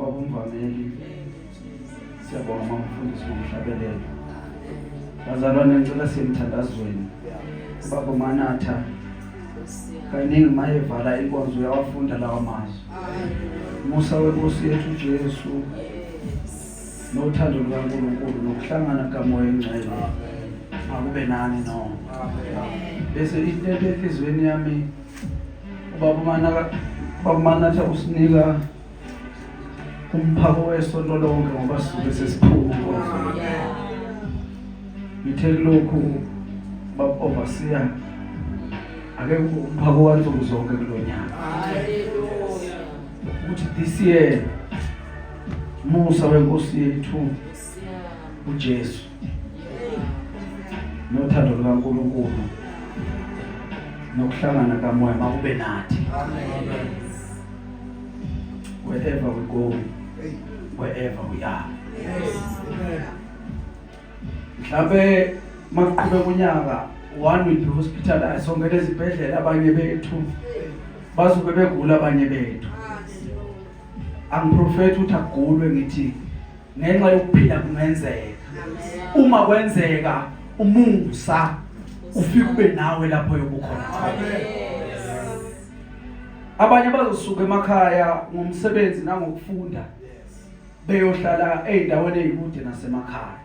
Babumvameli, siyabonga mamfundisi ngomhlabelelo. Bazalwane ngicela semthandazweni. Baba Manatha kaningi mayevala inkonzo uyawafunda lawa mazwi. Musa weNkosi yethu Jesu nothando lukaNkulunkulu nokuhlangana kaMoya eNgcwele akube nani no. Bese intente enhlizweni yami ubaba Manatha usinika umphako wesonto lonke ngoba sisuke sesiphuma ngithe lokhu baba overseer ake umphako wansuku zonke kulo nyaka ukuthi this year musa wenkosi yethu uJesu nothando lukaNkulunkulu nokuhlangana kamoya makube nathi wherever we go wherever we are mhlawumbe makuqhube kunyaka one will be hospitalized sonke lezibhedlela abanye bethu bazobe begula abanye bethu angiprofethi ukuthi agulwe ngithi ngenxa yokuphila kungenzeka uma kwenzeka umusa ufike ube nawe lapho yokukhona abanye bazosuka emakhaya ngomsebenzi nangokufunda beyohlala ezindaweni ezikude nasemakhaya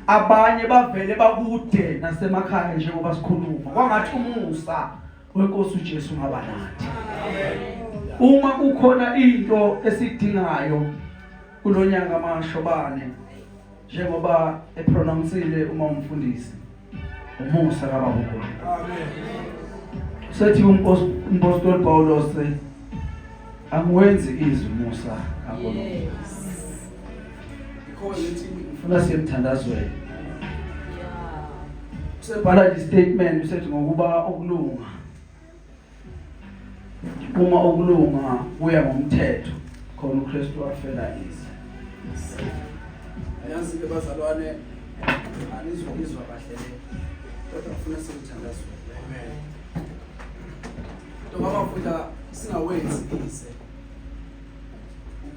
abanye bavele bakude nasemakhaya njengoba sikhuluma kwangathi umusa wenkosi uJesu ngaba nathi uma kukhona into esidingayo kulo nyaka amashobane njengoba epronounsile uma umfundisi umusa kababa uNkulunkulu sethi umpostoli Paulos angiwenzi izwi musa kaNkulunkulu ngifuna siyemthandazweni sebhala i statement usethi ngokuba okulunga uma ukulunga kuya ngomthetho khona uKristu afela ize yazi ke bazalwane anizokizwa kahle le kodwa ngifuna sikuthandaze amen nto bafunda singawenzi ize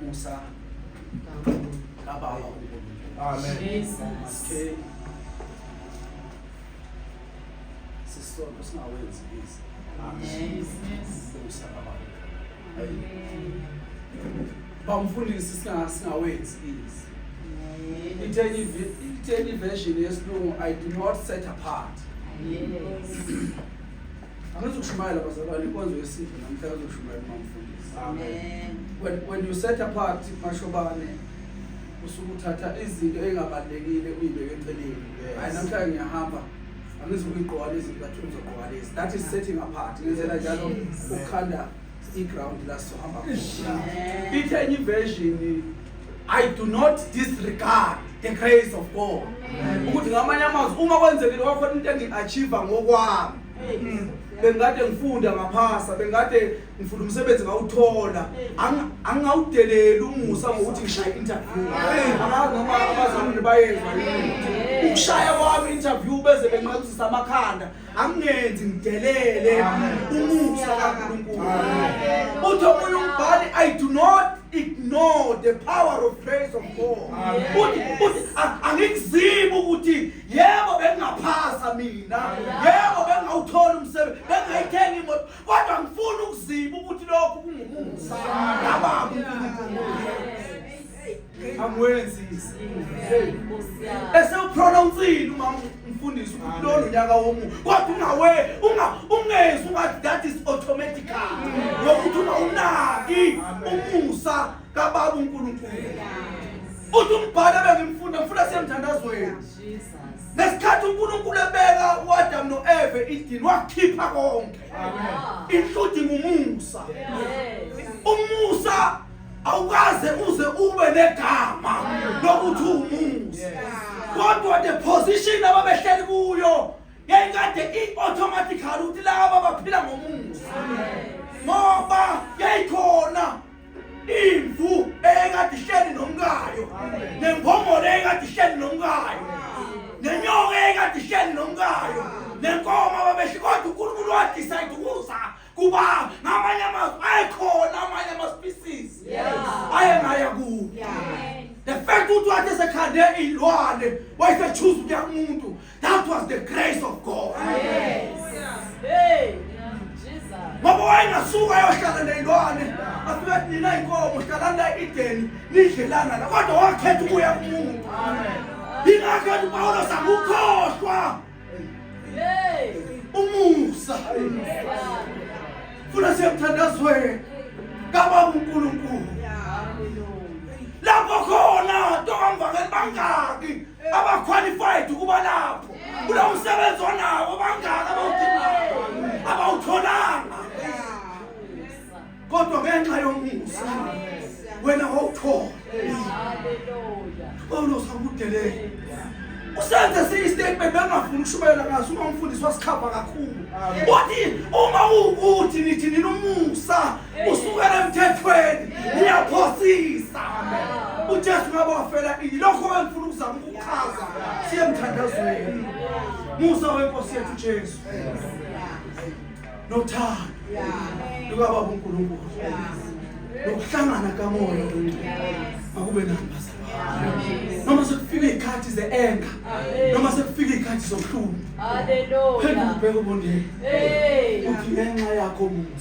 umusa kababa amen jesus sisonto singawenzi izi bamfundisi singawenzi izi itheni version yesilungu i do not set apart angithi ukushumayela bazalwane inkonzo yesintu namhla kazoshumayela umamfundisi when you set apart mashobane usuke uthatha izinto engabalulekile uyibeke eceleni hayi namhlanje ngiyahamba angizukuyigqoka lezi ngathi ngizogqoka lezi that is setting apart ngenzela njalo ukukhanda i-ground la sizohamba ithe enye iversion i do not disregard the grace of god ukuthi ngamanye amazwi uma kwenzekile kwakhona into engi-achieve ngokwami bengikade ngifunda ngaphasa bengikade ngifuna umsebenzi ngawuthola angingawudeleli umusa ngokuthi ngishaye interview angazi noma abazamile bayenza ukushaya kwami interview beze benqabuzisa amakhanda angingenzi ngidelele umusa kaNkulunkulu uthi omunye umbhali i do not ignore the power of praise of God uthi uthi angikuzibi ukuthi yebo bengingaphasa mina yebo bengawuthola umsebenzi bengayithenga imoto kodwa ngifuna ukuziba ukuthi lokhu kungumusa kababa uNkulunkulu angwenzisi esewupronounceile umama umfundisi ukuthi lona unyaka womuntu kodwa ungawe ungezi ungathi that is automatical ngokuthi ungawunaki umusa kababa uNkulunkulu uthi umbhalo bengimfunda ngifunda semthandazweni ngesikhathi uNkulunkulu ebeka uAdam noEve idini wakhipha konke including umusa umusa awukaze uze ube negama lokuthi umusa kodwa the position ababehleli kuyo yayikade i-automatically ukuthi laba baphila ngomusa ngoba yayikhona imvu eyayikade ihleli nomkayo nemphongolo eyayikade ihleli nomkayo nenyoka eyayikade ihleli nomkayo nenkomo ababesho kodwa unkulunkulu wadicide ukuza kuba ngamanye amazwi ayekhona amanye ama-species ayengaya kuwo the fact ukuthi wathi esekhande iy'lwane wayesechuza ukuya kumuntu That was the grace of God. Yes. Hey. Ngoba wayengasuka ayohlala neyilwane afike athi nina inkomo hlalani la ideni nidlelana la kodwa wakhetha ukuya kumuntu yingakho ethi upawulos akukhohlwa umusa funa siyemthandazweni kababa unkulunkulu lapho khona tokamvangeli bangaki abaqualified ukuba lapho kulo msebenzi onawo bangaka abawudingayo abawutholanga kodwa ngenxa yomusa wena wawuthola pawulos akudelele usenze esinye istatement bengafuni ukushubayela ngaso uma umfundisi wasikhava kakhulu uthi uma uwukuthi nithi nina umusa usukela emthethweni uyaphosisa ujesu ngabe wafela ini lokho engifuna ukuzama ukuchaza siye emthandazweni musa wenkosi yethu jesu nothando lukababa unkulunkulu nokuhlangana kamoya makube nabazalwane noma sekufika iy'khathi ze-enga noma sekufika iy'khathi zobuhlungu phendula ubheke ubondeni uthi ngenxa yakho muntu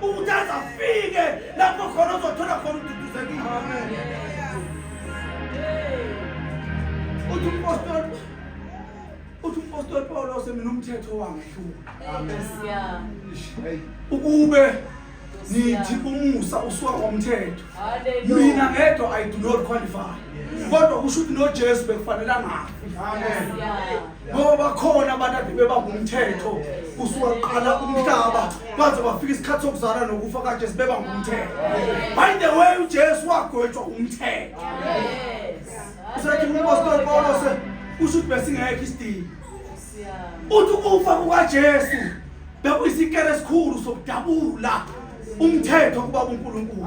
ukuthi azafike lapho khona uzothola khona ududuzekile uthi umpostoli uthi umpostoli pawulose mina umthetho wangihluka ukube nithi umusa usuka komthetho mina ngedwa i do not qualify kodwa kusho ukuthi nojesu bekufanele angafi ngoba bakhona abantu ade bebangumthetho kusuka kuqala umhlaba baze bafika isikhathi sokuzala nokufa kade sibeba ngumthetho by the way ujesu wagwetshwa umthetho usethi umpostoli pawulos usho ukuthi besingekho isidingo uthi ukufa kukajesu bekuyisikele esikhulu sokudabula umthetho kuba unkulunkulu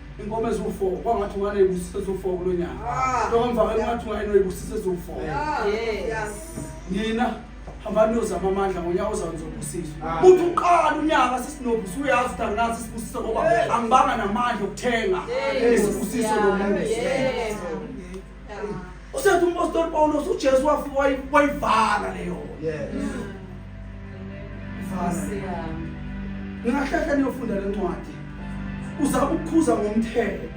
inkomo eziwu-fo kwangathi unganeyibusisa eziwu-fo kulo nyaka ah. lokamvakela ungathi ungayeneyibusisa eziwu-fo nina hambani niyozama amandla ngonyaka ozayo nizobusiswa ah. uthi uqala unyaka sesinobu suyazi ukuthi anginazi isibusiso ngoba angibanga namandla okuthenga isibusiso lomuntu usethi umpostoli Pawulos uJesu wafika wayivala leyo ningahlehla niyofunda le ncwadi uzama ukukhuza ngomthetho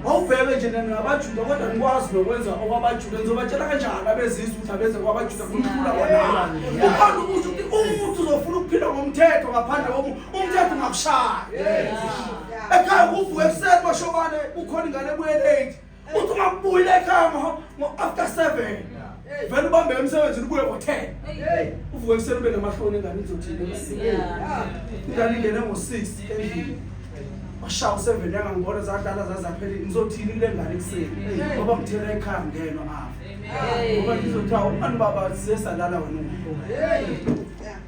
awubheke nje nangabajuda kodwa nikwazi nokwenza okwabajuda nizobatshela kanjani abezizwe ukuthi abenze kwabajuda kumhlula kwanaa ukhona ukusho ukuthi umuntu uzofuna ukuphila ngomthetho ngaphandle komu umthetho ungakushaya ekhaya kuvuka ekuseni bashobane kukhona ingane ebuye late uthi ungabuyile ekhaya ngo-after seven vele ubambe emsebenzini ubuye ngo-ten uvuke ekuseni ube namahloni ingane izothini ingane ingene ngo-six endlini washawa useven yangangibona zadlala zazaphele ngizothini kule ngane ekuseni ngoba ngithela ekhaya ngeno afa ngoba ngizothiwa umani baba sisesalala wena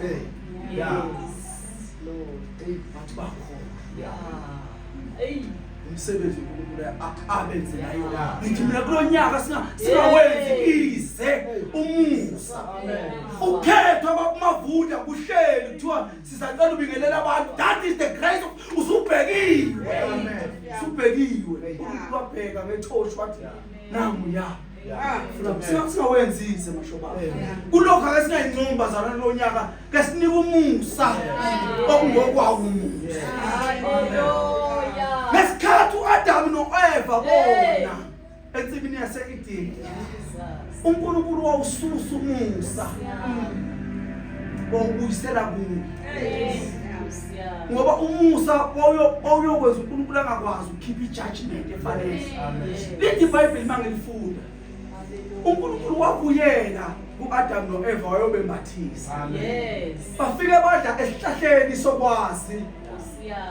Hey. Yeah. Lord. Hey, bathi bakhona. Yeah. Hey. umsebenzi uNkulunkulu abenze nayo ngithi mina kulo nyaka singawenzi ize umusa ukhethwa bakumavunda kuhleli kuthiwa sizacela ubingelela abantu that is the grace of usubhekiwe usubhekiwe uNkulunkulu wabheka ngetoshi wathi nangu ya singawenzise mashoba kulokhu ake singayincingi bazalwane lonyaka ke sinika umusa okungokwawo umusa ngesikhathi uAdamu noEva bona ensibini yaseEden uNkulunkulu wawususa umusa wawubuyisela kuye ngoba umusa wawuyokwenza unkulunkulu angakwazi ukukhipha ijudgment efanele lithi ibhayibheli uma ngilifunda unkulunkulu wakuyena ku-adam no-eva wayobembathisa bafike badla esihlahleni sokwazi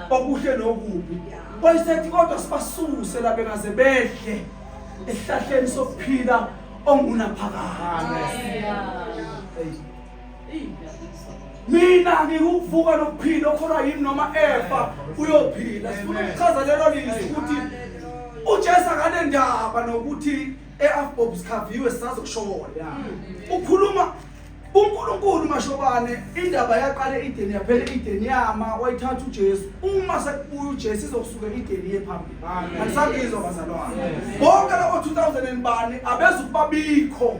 okuhle nokubi wayesethi kodwa sibasuse la bengaze bedle esihlahleni sokuphila ongunaphakade mina ngikuvuka nokuphila okholwa yini noma efa uyophila sifuna ukuchaza lelo lizwi ukuthi ujesu akanendaba nokuthi e-afbob sikhaviwe sisazokushona ukhuluma unkulunkulu mashobane indaba yaqale ideni yaphela ideni yama wayithatha ujesu uma sekubuya ujesu izokusuke ideni ye phambili andisabizwa bazalwane bonke labo 2000 bani abezukubabikho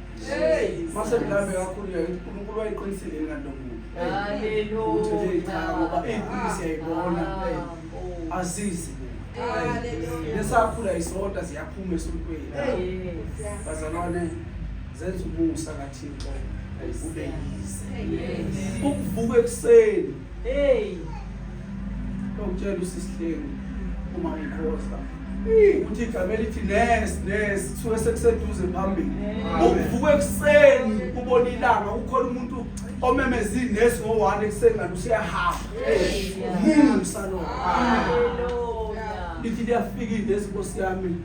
mase mlambe kakhulu yakuthi uNkulunkulu wayiqinisile ngalo muntu haleluya ngoba iqinise yayibona azizi nesakhula isonta ziyaphuma esontweni bazalwane zenza umusa kaThixo ube yize ukuvuka ekuseni Hey. Lokutshela usisihlengu uma ngikhoza. Uthi igama elithi nes nes kusuke sekuseduze phambili. Ukuvuka ekuseni ubona ilanga ukhona umuntu omemeza ines ngo-one ekuseni kanti useyahamba. Musa lo. Lithi liyafika ines Nkosi yami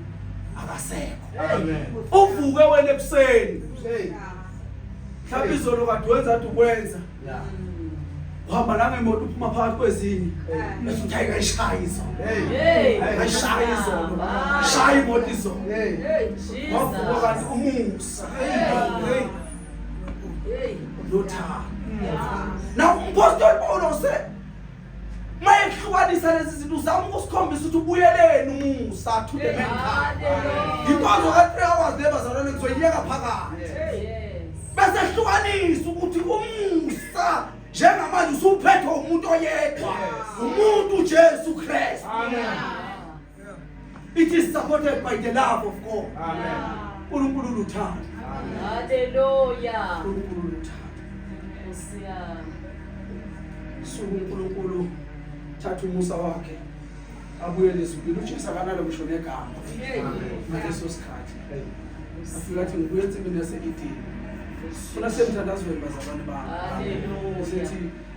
akasekho. Amen. Uvuke wena ekuseni. Hey. Mhlawumbe izolo kade wenza athi ukwenza. Yeah. uhamba nami imoto uphuma phakathi kwezinye bese uthi hayi kayishaye izolo kayishaye izolo shaye imoto izolo wavuka kanti umusa nothando na umpostoli pawulo use mayekuhlukanisa lezi zinto uzama ukusikhombisa ukuthi ubuyeleni umusa to the man inkonzo ka-three hours le bazalwane ngizoyiyeka phakathi bese hlukanisa ukuthi umusa njengamanje usuphethwe umuntu oyedwa umuntu ujesu kristu It is supported by the love of God. Amen. uNkulunkulu uluthando. Hallelujah. uNkulunkulu uluthando. Nkosi yami. Suku uNkulunkulu thatha umusa wakhe abuye lezulu uJesu akanalo ngisho negama ngaleso sikhathi afika athi ngibuye ensimini yaseEden funa semthandazweni bazalwane bami usethi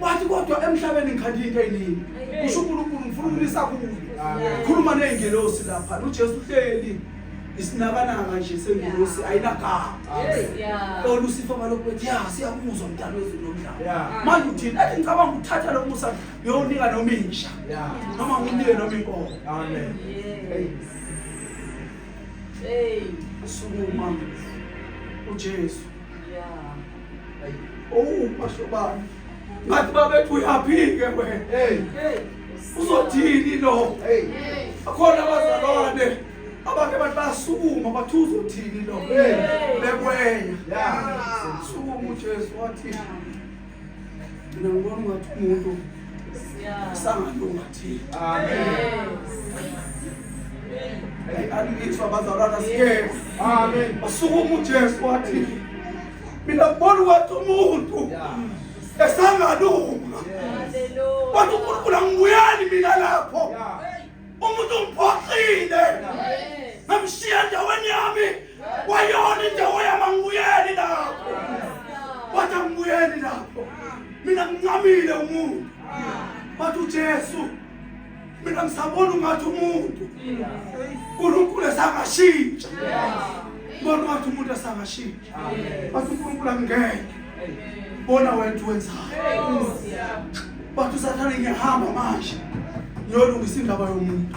wathi kodwa emhlabeni ngikhanda into eyiningi kusho unkulunkulu ngifuna ukulisa kuyo khuluma ney'ngelosi lapha nojesu uhleli isinakananga nje sengilosi ayinagama olusifa balokhu bethi ya siyakuzwa mdala wezulu nomdlalo manje uthini athi ngicabanga ukuthatha lo musa ngiyowunika noma insha noma ngiwunike noma inkomo sukuma ujesu Oh, basho bani. Ngathi babethu uyaphike wena. Hey. Uzothini lo? Hey. Akhona abazalwane abake bathi basukuma bathi uzothini lo? Hey. Bekwenya. Yeah. Sukuma uJesu wathi. Mina ngibona ngathi umuntu sangalunga. Alilitshwa bazalwana siye. Amen. Wasukuma uJesu wathi mina ngibona ukuthi umuntu esangalunga. Wathi uNkulunkulu angibuyeli mina lapho. Umuntu ungiphoxile. Ngamshiya endaweni yami. wayona indawo yami angibuyeli lapho wathi angibuyeli lapho mina ngincamile umuntu bathi ujesu mina ngisabona ungathi umuntu unkulunkulu esangashintsha bona ungathi umuntu esangashintsha bathi unkulunkulu angingeke bona wena uthi wenzayo bathi usathane ngiyahamba manje ngiyolungisa indaba yomuntu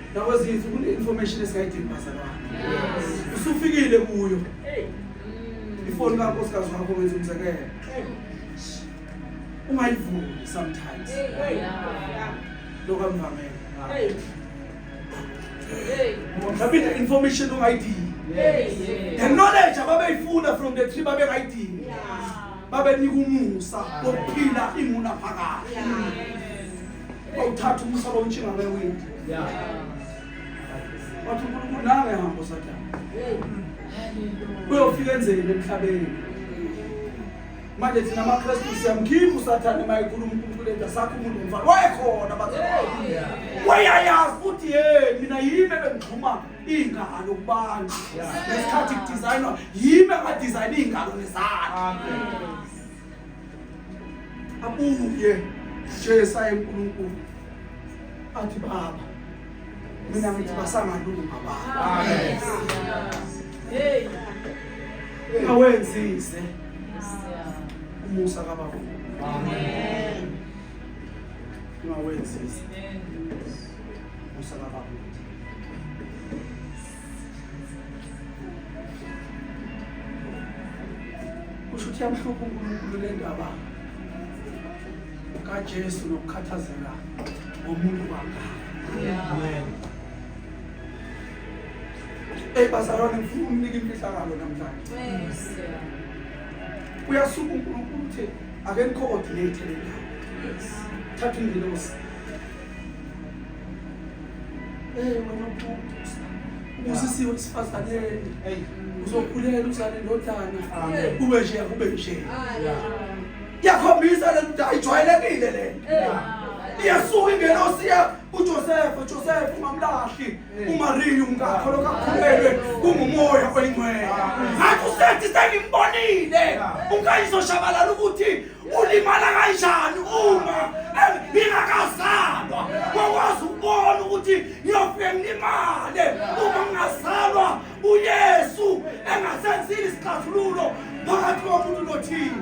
Nakwezinye izinsuku kune-information esingayidingi bazalwane. Usufikile kuyo. Ifoni kankosikazi wakho wenza umzekelo. Ungayivuli sometimes. Lokho amvamele. Mhlawumbe i-information ungayidingi. The knowledge ababeyifuna from the tree babengayidingi. Babenika umusa wokuphila imunaphakade. Uma uthatha umsalo ontshinga ngewindi. Yeah. Wathi uNkulunkulu nawe hambo sathana. Uyofika enzeni emhlabeni? Manje thina amaKristu siyamkhipha usathane uma ekhuluma uNkulunkulu enda sakho umuntu ngomfana. Wayekhona bathi. Wayayazi futhi hey mina yimi ebengixhuma ingalo kubantu. Ngesikhathi kudesignwa yimi abadesign ingalo nezandla. Amen. abuye Jesu ayenkulunkulu athi baba mina ngithi basangalunga baba ungawenzize umusa kababa ungawenzize umusa kababa kusho ukuthi yamhlupha unkulunkulu le ndaba kajesu nokukhathazela ngomuntu wangaka eyi bazalwane ngifuna umnika imfihlakalo namhlanje uyasuka unkulunkulu uthi ake ni-coordinate le ndawo thatha ingilosi Eh wena ubusa. Ubusisiwe usifazane. Hey uzokhulela uzale ndodana. Kube nje kube nje. Yakhombisa lento ayijwayelekile lento. Iyasuka ingelosi ya uJoseph, uJoseph ungamlahli. UMaria umkakho lokakhulelwe kungumoya oyingcwele. Ngathi usethi sengimbonile. Unkayizo shabalala ukuthi ulimala kanjani uma ngingakazalwa ngokwazi ukubona ukuthi ngiyofike ngilimale uma ngingazalwa uyesu engasenzile isixazululo phakathi komuntu nothini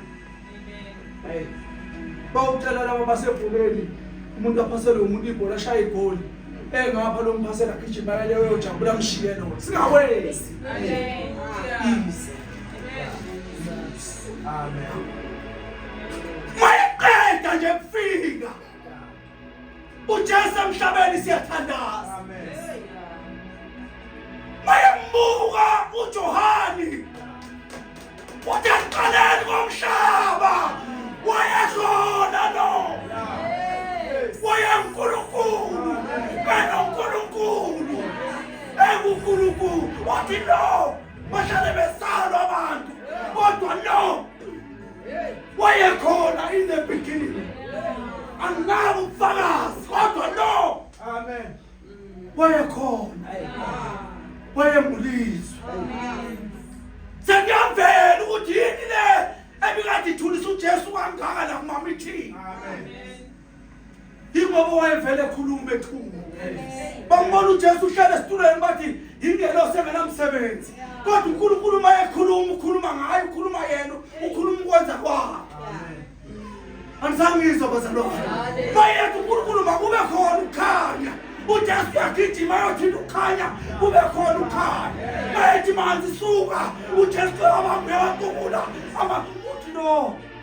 Hey. Bawucela laba basebholeni umuntu aphasele umuntu ibhola ashaya igoli. Engapha lo mphasela gijima yale uyojabula mshiye lo. Singawenzi. Amen. Ize. Amen. Mayeqeda nje kufika. uJesu emhlabeni siyathandaza mayembuka uJohani uthi aqaleni komhlaba wayedlona lo wayenkulunkulu benonkulunkulu engunkulunkulu wathi lo bahlale besalwa abantu kodwa no wayekhona in the beginning anginabo ubufakazi kodwa no amen wayekhona wayengulizwe sengiyamvela ukuthi yini le ebikade ithulisa ujesu kangaka la kumamithini yingoba wayevele ekhuluma bethunga bambona ujesu uhlele esitulweni bathi yingelosi engenamsebenzi kodwa unkulunkulu uma ekhuluma ukhuluma ngayo ukhuluma yena ukhuluma ukwenza kwakhe andisangizwa bazalwane bayethu unkulunkulu makube khona ukukhanya ujesu uyagijima yothinta ukukhanya kube khona ukukhanya bayethi manzi suka ujesu abambe watukula uthi no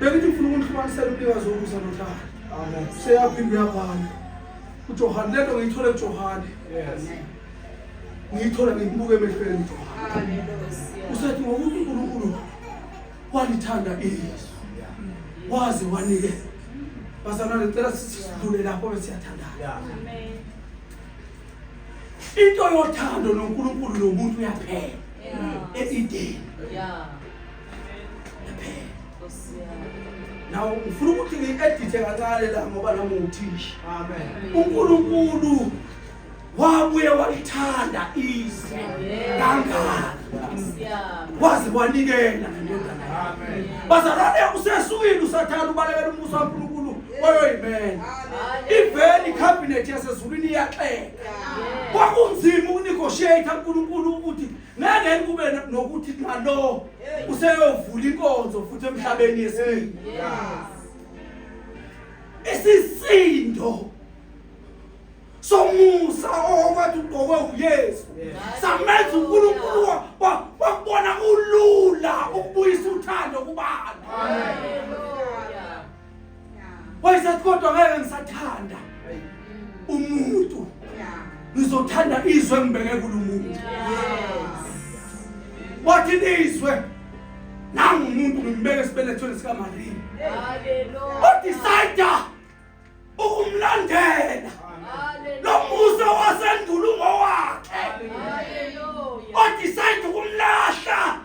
bengithi ngifuna ukunihlukanisela umnikazi wokusa nothando seyaphinde uyabhala ujohane le nto ngiyithole kujohane ngiyithola ngikubuke emehlweni ujohane usethi ngokuthi unkulunkulu walithanda iyesu waze wanike bazalwane ngicela sidlule lapho bese siyathandana into yothando nonkulunkulu nomuntu uyaphela e-edeni naw ngifuna ukuthi ngi-edithe kancane la ngoba nami nguthisha unkulunkulu wabuye walithanda izwi kangaka waze wanikela nendodana yakhe bazalwane usesukwini usathanda ubalekela umbuso kankulunkulu oyoyimela ivele ikhabhinethi yasezulwini iyaxeka kwakunzima ukunegotiate unkulunkulu ukuthi ngeke kube nokuthi nalo useyovula inkonzo futhi emhlabeni yesibili isisindo somusa owathi ugqokwe uyesu samenza unkulunkulu wakubona ulula ukubuyisa uthando kubantu wayesathi kodwa ngeke ngisathanda umuntu ngizothanda izwe engibeke kulo muntu wathi nizwe nangu umuntu ngimbeke esibelethweni sikamariya odisayida ukumlandela lo musa wasendulo ungowakhe odisayida ukumlahla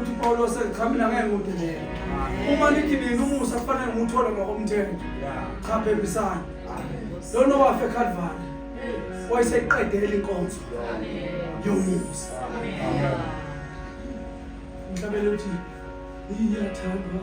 uthi uPawulos echamile ngeke ngudedele uma nithi nina umusa kufanele ngiwuthole ngokomthetho cha phembisana lona owafa eKalvari wayeseyiqedela inkonzo yomusa ngihlabele ukuthi ngiyathandwa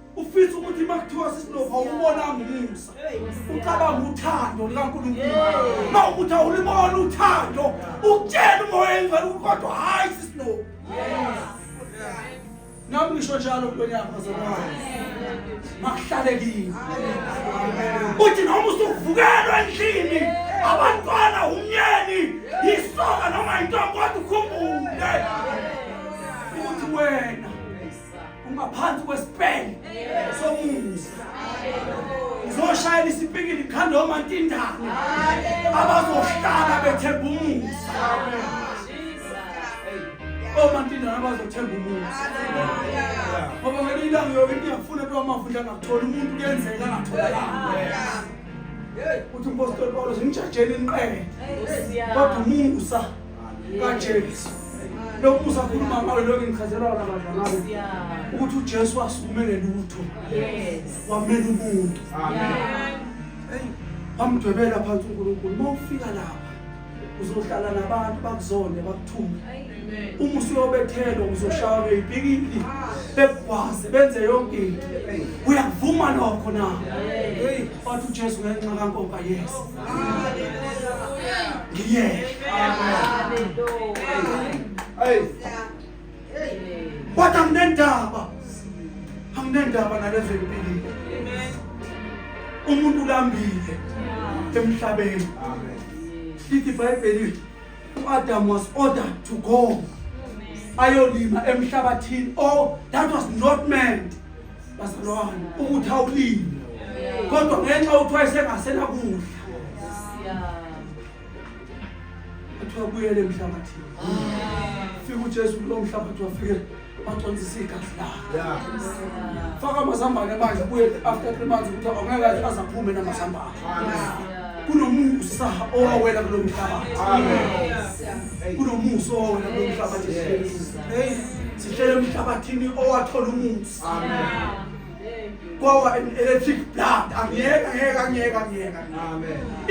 ufisa ukuthi uma kuthiwa sisilova awubonanga umusa ucabanga uthando likankulunkulu uma ukuthi awulibona uthando ukutshela umoya engcwele kodwa hhayi sisilova nami ngisho njalo ntweni yakho zalwayo makuhlale kini uthi noma usuvukelwa endlini abantwana umyeni yisoka noma yintombi kodwa ukhumbule ukuthi wena ungaphansi kwesipele somusa ngizoshayela isipikili ngikhanda omantindane abazohlala bethemba umusa omantindane abazothemba umusa ngoba ngelinye ilanga yoke into yafuna into wamafundla angakutholi umuntu kuyenzeka angatholakanga uthi umpostoli pawulos ngijajela inqele kodwa umusa kaJesu lokhu usakhuluma ngayo lokhu engichazelwa wona badlalayo ukuthi uJesu wasukumele lutho wamela umuntu wamdwebela phansi uNkulunkulu uma ufika lapha uzohlala nabantu bakuzone bakuthuke uma usuyobethelwa uzoshawa ngeyipikili bekugwaze benze yonke into uyakuvuma lokho na wathi ujesu ngenxa kankoka yes Yes. Hey. But anginendaba. Anginendaba nalezi empilini. Umuntu ulambile emhlabeni. Lithi iBhayibheli uAdam was ordered to go. Ayolima emhlabathini. Oh, that was not meant. bazalwane ukuthi awulimi kodwa ngenxa yokuthi wayesengasena kudla kuthiwa buyele emhlabathini fika ujesu kulo mhlabathi wafike baconsisa igazi lakhe faka amazambane manje buye after three months ukuthi angeke aze aphume namazambane kunomusa owawela kulo mhlabathi kunomusa owawela kulo mhlabathi hey sishele emhlabathini owathola umusa kwawa electric blood angiyeka ngeke angiyeka ngiyeka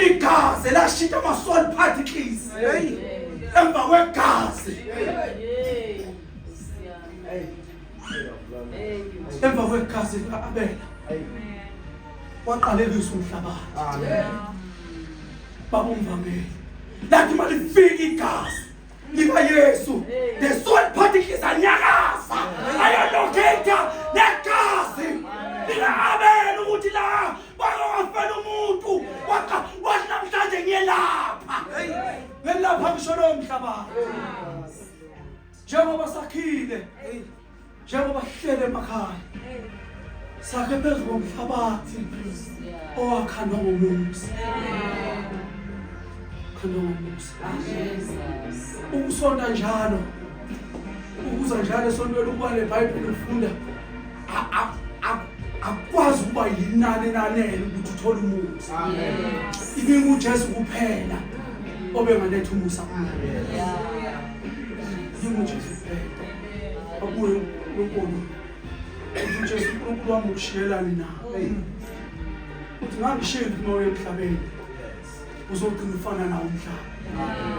igazi lashintsha ama-soul particles hey emva kwegazi emva kwegazi lika-abela waqalekisa umhlabathi babumvameli lathi uma lifika igazi likayesu the soul particles anyakaza ayalokhetha negazi lika-abela ukuthi la bakawafela umuntu wathi namhlanje ngiyelapha ngelapha ngisho lowo mhlabathi njengoba sakhile njengoba sihlele emakhaya sakhe phezu komhlabathi owakhandwa ngomusa khandwa ngomusa ukusonta njalo ukuza njalo esontweni ukuba nebhayibheli ufunda akwazi ukuba yinani elanele ukuthi uthole umusa ibingujesu kuphela obengaletha umusa Yebo Jesu ubheka. Abuye uNkulunkulu. Uthi uJesu uNkulunkulu wami ukushiyelani na? Uthi ngangishiyela umoya emhlabeni. Uzogcina ufana nawo umhlaba.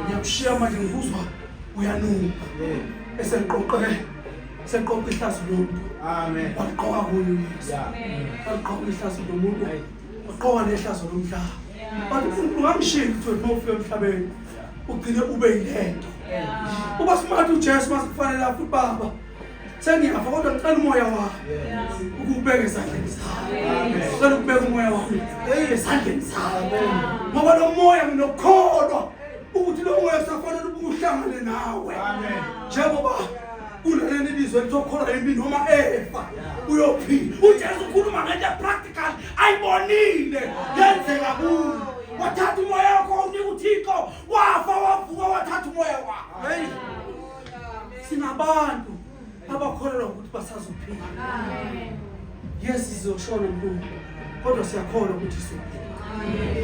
Ngiyakushiya manje ngikuzwa uyanuka. Eseqoqe seqoqe ihlazo lomuntu. Amen. Waqoka kuyo Yesu. Waqoka ihlazo lomuntu. Waqoka nehlazo lomhlaba. but ungamshiyi ukuthi uma ufika emhlabeni ugcine ube yilento uba smart ujesu masikufanele afuthi baba sengiyafa kodwa ngicela umoya wami ukubeka esandleni sakho cela ukubeka umoya wami esandleni sakho ngoba lo moya nginokukholwa ukuthi lo moya kusafanele ubuhlangane nawe njengoba kunaleli lizwe litokholwa yimi noma efa uyophila ujesu ukhuluma ngento epractical ayibonile yenzeka kuyo wathatha umoya wakho unika uthixo wafa wavuka wathatha umoya wakho heyi sinabantu abakholelwa ukuthi basazophila yes sizoshona mlungu kodwa siyakholwa ukuthi sizophila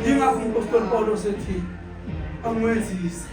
yingakho impostoli paulo sethi angwenzise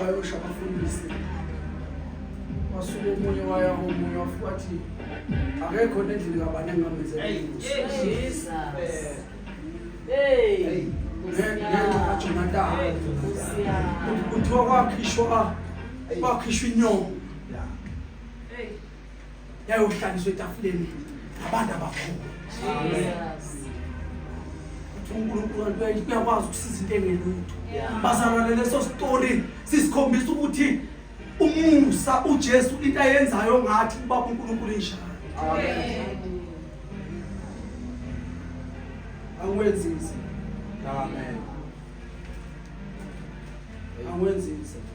wayosha abafundisi wasuka omunye waya omunye wafuka athi akekho nendlela kabani engamenzelajonatani kuthiwa kwakhishwa kwakhishwa inyongo yayohlaliswa etafuleni ngabantu abakhulu uNkulunkulu kuyakwazi ukusiza into engelutho bazalwane leso story sisikhombisa ukuthi umusa uJesu into ayenzayo ngathi ubaba uNkulunkulu injalo angiwenzi nzima amen angiwenzi nzima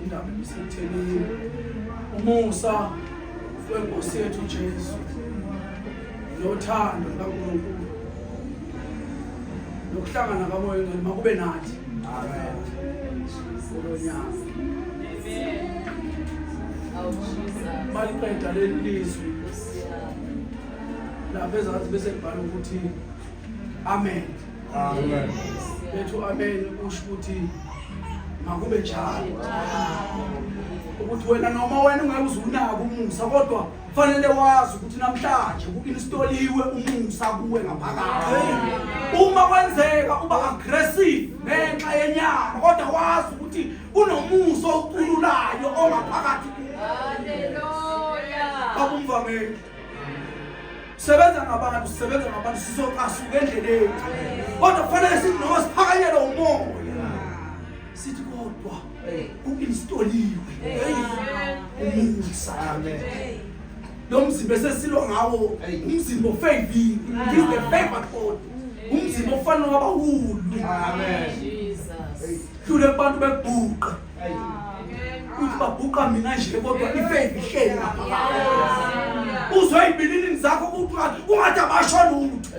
indaba ebisethelile umusa wenkosi yethu Jesu nothando lukaNkulunkulu nokuhlangana kamoya ngcwele makube nathi amen kulonyaka amen awushisa baliqeda leli lizwi lapha ezansi bese kubhala ukuthi amen amen bethu amen kusho ukuthi makube njalo ukuthi wena noma wena ungeke uzunaka umusa kodwa fanele wazi ukuthi namhlanje ku-instaliwe umusa kuwe ngaphakathi uma kwenzeka uba aggressive ngenxa yenyama kodwa wazi ukuthi Kunomusa okhululayo ongaphakathi kuwe. Haleluya. Babumvangeli. Sebenza ngabantu, sebenza ngabantu sizocasuka endleleni. Kodwa kufanele sithi noma siphakanyelwe umoya. Sithi kodwa uinstoliwe. Umusa. Amen. Lo mzimba esesilwa ngawo umzimba ofavile. This is the favored body. Umzimba ofanele wabahulu. Amen. dlule abantu bebhuqa ukuthi babhuqa mina nje kodwa ifaith ihleli ngapha uzwe ibilini zakho kuthiwa kungathi abasho lutho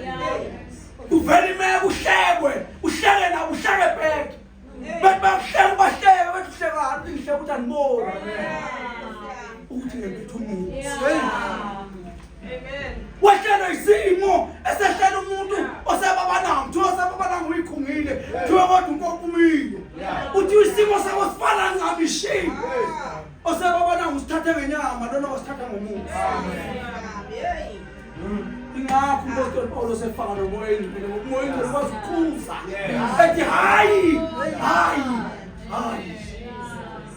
kuvela imeko uhlekwe uhleke nabo uhleke bheke bethi bakuhleka ubahleke bethi uhlekani ulihleka ukuthi andiboni ukuthi ngempetha umuntu wahlelwa isimo esehlela umuntu osebabananga kuthiwa osebabananga uyikhungile kuthiwa kodwa unkokumile uthiwa isimo sabo sifana ncabishini osebabananga usithathe ngenyama lona wasithatha ngomuntu ingakho umpostoli pawulos efaka nomoya engcwele ngokumoya engcwele kwazi ukukhuza ethi hayi hayi hayi